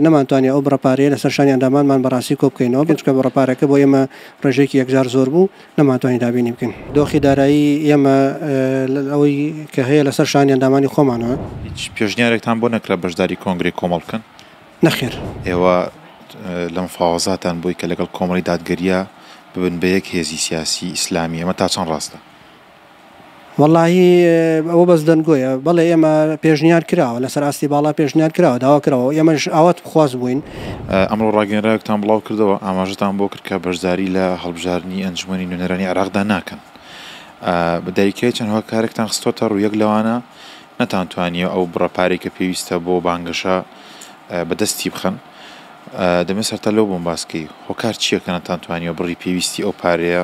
نەمانتوانی ئەو بڕە پارەیە لەسەر شانی ئەندامانمان بەڕاستی کۆبکەینەوە، چونکە بڕە پارەکە بۆ ئێمە ڕێژەیەکی یەکجار زۆر بوو، نەمانتوانی دابینی بکەین. دۆخی دارایی ئێمە لەل ئەوەی کە هەیە لەسەر شانی ئەندامانی خۆمانە. هیچ پێشنیارێکتان بۆ نەکرا بەشداری کۆنگرەی کۆمەڵ بکەن؟ نەخێر. ئێوە لە مفاوەزاتان بووی کە لەگەڵ کۆمەڵی دادگەرییە ببن بە یەک هێزی سیاسی ئیسلامی، ئەمە تا چەند ڕاستە؟ وەڵاهی ئەوە بەس دەنگۆیە بەڵێ ئێمە پێشنیار کراوە لەسەر ئاستی باڵا پێشنیار کراوە داوا کراوە ئێمەش ئاوات بخواز بووین. ئەمڕۆ ڕاگەیێنراوێکتان بڵاو کردەوە ئاماژەتان بۆ کرد کە بەشداری لە هەڵبژاردنی ئەنجومەنی نوێنەرانی عێراقدا ناکەن. بە دایکایی چەند هۆکارێکتان خستۆتە ڕوو یەک لەوانە نەتانتوانیوە ئەو بڕە پارەی کە پێویستە بۆ بانگەشە بە دەستی بخەن. دەمەوێت سەرەتا لەو بۆم باس کەی هۆکار چییە کە نەتانتوانیوە بڕی پێویستی ئەو پارەیە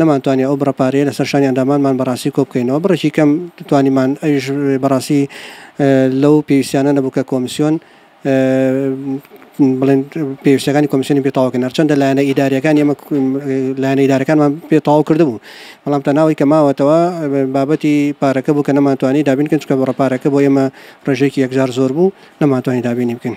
نەمانتوانی ئەو بڕە پارەیە لەسەر شانی ئەندامانمان بەڕاستی کۆبکەینەوە، بڕێکی کەم توانیمان ئەویش بەڕاستی لەو پێویستیانە نەبوو کە کۆمسیۆن بڵێن پێویستیەکانی کۆمسیۆنی پێ تەواو بکەن، هەرچەندە لایەنە ئیداریەکانی ئێمە لایەنە ئیدارەکانمان پێ تەواو کردبوو، بەڵام تەنها ئەوەی کە ماوەتەوە بابەتی پارەکە بوو کە نەمانتوانی دابین بکەین، چونکە بڕە پارەکە بۆ ئێمە ڕێژەیەکی یەکجار زۆر بوو، نەمانتوانی دابینی بکەین.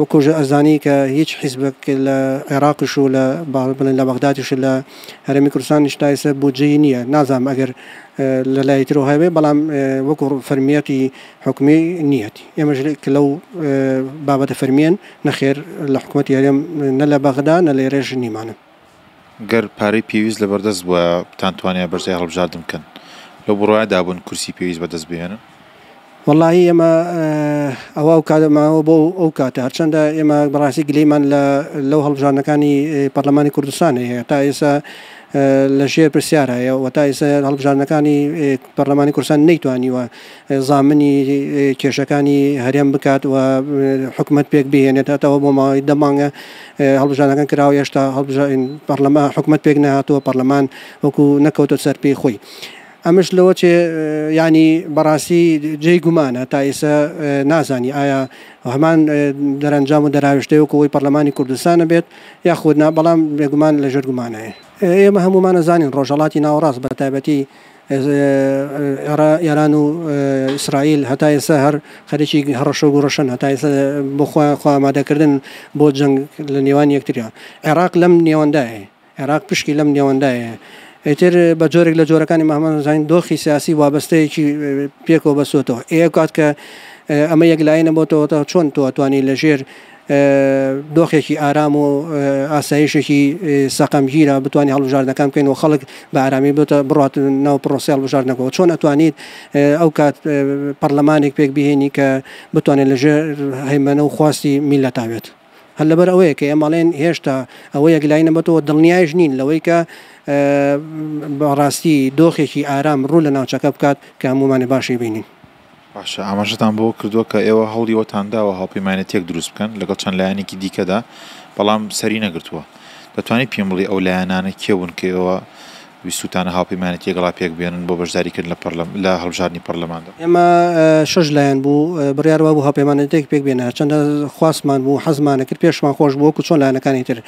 وەکو ئەزانی کە هیچ حیزبەک لە عێراقش و لە بەڵێن لە بەغدادش و لە هەرێمی کوردستانیش تا ئێستا بودجەی نییە نازانم ئەگەر لە لای ترەوە هەبێ بەڵام وەکو فەرمییەتی حکومی نییەتی ئێمەش کە لەو بابەتە فەرمییەن نەخێر لە حکوومەتی هەرێم نە لە بەغدا نە لە ئێرەش نیمانە. گەر پارەی پێویست لەبەردەست بوایە بتان توانیایە بەرجەی هەڵبژاردن بکەن لەو بڕوایەدا بوون کورسی پێویست بەدەست بهێنن؟ وەڵاهی ئێمە ئەوە ئەو کاتە ماوە بۆ ئەو کاتە هەرچەندە ئێمە بەڕاستی گلەیمان لە لەو هەڵبژاردنەکانی پەرلەمانی کوردستان هەیە تا ئێستا لە ژێر پرسیار هەیە و تا ئێستا هەڵبژاردنەکانی پەرلەمانی کوردستان نەیتوانیوە زامنی کێشەکانی هەرێم بکات و حکومەت پێک بهێنێت هەتەوە بۆ ماوەی دە مانگە هەڵبژانەکان کراوە هێشتا پەرلەمان حکومەت پێک نهاتووە پەرلەمان وەکو نەکەوتە سەر پێی خۆی ئەمەش لەوە چێ ینی بەڕاستی جێی گومانە تا ئێسە نازانی ئایا هەمان دەرەنجام و دەراوشتەیە وکەوەی پەرلەمانی کوردستانە بێت یاخودنا بەڵام بێگومان لەژێر گومانەیە ئێمە هەمومانە زانین ڕۆژەڵاتی ناوەڕاست بە تایبەتی ئێران و ئیسرائیل هەتا ئێستا هەر خەریکی هەڕەشە و گوڕەشەن، هەتا ئێستا بۆ خۆیان خۆ ئامادەکردن بۆ جەنگ لە نێوان یەکتریان. عێراق لەم نێوەندایه، عێراق پشکی لەم نێوەندایه. ئیتر بە جۆرێک لە جۆرەکانی مەهمەت هەزاین دۆخی سیاسی وابەستەیەکی پێکەوە بەستۆتەوە. ئێ ئەو کات کە ئەمە یەکلایەنە بۆتەوە تا چۆن تۆ ئەتوانی لەژێر دۆخێکی ئارام و ئاسایشێکی سەقەمگیرە بتوانین هەڵبژاردنەکان بکەین و خەڵک بە ئارامی بێتە بڕات ناو پڕۆسەی هەڵبژاردنەکەەوە چۆن ئەتوانیت ئەو کات پەرلەمانێک پێک بهێنی کە بتوانێت لەژێر هەیمەنە و خواستی میلەتا بێت هەر لەبەر ئەوەیە کە ئێمەڵێن هێشتا ئەوە یەکلایی نەبەتەوە دڵنیایش نین لەوەی کە بەڕاستی دۆخێکی ئارام ڕوو لە ناوچەکە بکات کە هەمومانی باشی بینین. باشە ئاماژەتان بەوە کردووە کە ئێوە هەوڵی ئەوەتان داوە هاوپەیمانێتییەک دروست بکەن لەگەڵ چەند لایەنێکی دیکەدا، بەڵام سەری نەگرتووە. دەتوانیت پێم بڵێی ئەو لایەنانە کێ بوون کە ئێوە ویستووتانە هاوپەیمانێتی لەگەڵا پێک بێنن بۆ بەشداریکردن لە پەڕلەم لە هەڵبژاردنی پەڕلەماندا؟ ئێمە شەش لایەن بوو بڕیار وابوو هاوپەیمانێتییەک پێک بێنە، هەرچەندە خواستمان بوو، حەزمانە کرد، پێشمان خۆش بوو وەکوو چۆن لایەنەکانی تر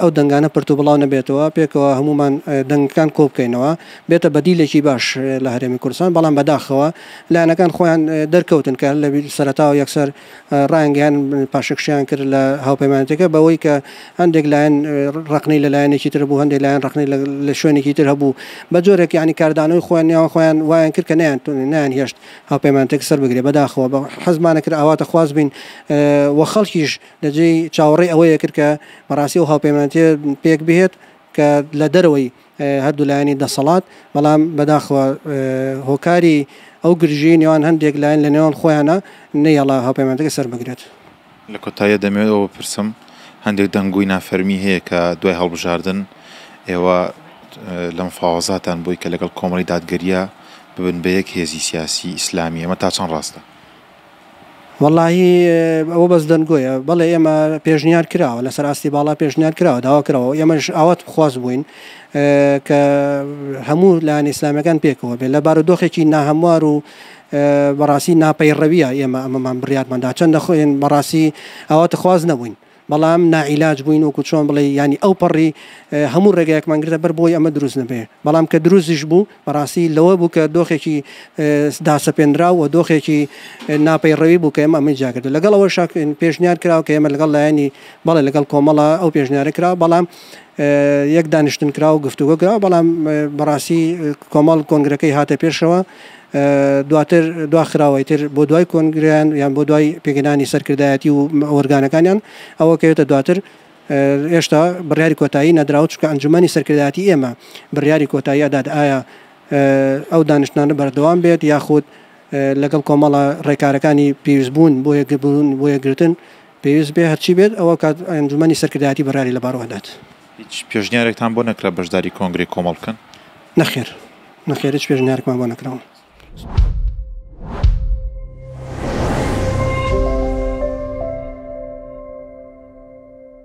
ئەو دەنگانە پرت و بڵاو نەبێتەوە، پێکەوە هەموومان دەنگەکان کۆ بکەینەوە. بێتە بەدیلێکی باش لە هەرێمی کوردستان، بەڵام بەداخەوە لایەنەکان خۆیان دەرکەوتن کە لە سەرەتاوە یەکسەر ڕایانگەیاند پاشەکشەیان کرد لە هاوپەیمانێتیەکە بەوەی کە هەندێک لایەن ڕەخنەی لە لایەنێکی تر بوو، هەندێک لایەن ڕەخنەی لە شوێنێکی تر هەبوو، بە جۆرێک یانی کاردانەوەی خۆیان نێوان خۆیان وایان کرد کە نەیانتوانی نەیانهێشت هاوپەیمانێتیەکە سەر بگرێت، بەداخەوە حەزمان نەکرد ئاواتەخواز بین و خەڵکیش لە جێی چاوەڕێی ئەوەیە کرد کە بەڕاستی ئەو هاوپەیمانێتیە پێک بهێت کە لە دەرەوەی هەردوو لایەنی دەسەڵات، بەڵام بەداخەوە هۆکاری ئەو گرژیی نێوان هەندێک لایەن لە نێوان خۆیانا نەیهێڵا هاوپەیمانەتەکە سەربگرێت. لە کۆتاییدا دەمەوێت ئەوە بپرسم، هەندێک دەنگۆی نافەرمی هەیە کە دوای هەڵبژاردن ئێوە لە مفاوەزاتان بووی کە لەگەڵ کۆمەڵی دادگەرییە ببن بە یەک هێزی سیاسیی ئیسلامی، ئەمە تا چەند ڕاستە؟ وەڵاهی ئەوە بەس دەنگۆیە بەڵێ ئێمە پێشنیار کراوە لەسەر ئاستی باڵا پێشنیار کراوە داوا کراوە ئێمەش ئاوات بخواز بووین کە هەموو لایەن ئیسلامەکان پێکەوە بێ لە بارودۆخێکی ناهەموار و بەڕاستی ناپەیڕەویە ئێمە ئەمەمان بڕاتماندا چەندە خۆێن بەڕاستی ئاوات خواز نەبووین بەڵام ناعیلاج بووین وەکو چۆن بڵێی یانی ئەو پەڕی هەموو ڕێگایەکمان گرتە بەر بۆی ئەمە دروست نەبێ بەڵام کە دروستیش بوو بەڕاستی لەوە بوو کە دۆخێکی داسەپێنراو و دۆخێکی ناپەیڕەوی بوو کە ئێمە ئەمەی جاگرتو لەگەڵ ئەوە شاک پێشنیار کراوە کە ئێمە لەگەڵ لایەنی بەڵێ لەگەڵ کۆمەڵە ئەو پێشنیارە کراوە بەڵام یەک دانیشتن کراوە گفتوگۆ کراوە بەڵام بەڕاستی کۆمەڵ کۆنگرەکەی هاتە پێشەوە دواتر دواخراوەی تر بۆ دوای کۆنگرەیان یان بۆ دوای پێکهێنانی سەرکردایەتی و ئۆرگانەکانیان ئەوە کەوێتە دواتر هێشتا بڕیاری کۆتایی نەدراوە چونکە ئەنجومەنی سەرکردایەتی ئێمە بڕیاری کۆتایی ئەدات ئایا ئەو دانیشتنانە بەردەوام بێت یاخود لەگەڵ کۆمەڵە ڕێکارەکانی پێویستبوون بۆ یەکبوون بۆ یەکگرتن پێویست بێ هەرچی بێت ئەوە کات ئەنجومەنی سەرکردایەتی بڕیاری لەبارەوە ئەدات. هیچ پێشنیارێکتان بۆ نەکرا بەشداری کۆنگرەی کۆمەڵ بکەن؟ نەخێر نەخێر هیچ پێشنیارێکمان بۆ نەکراوە.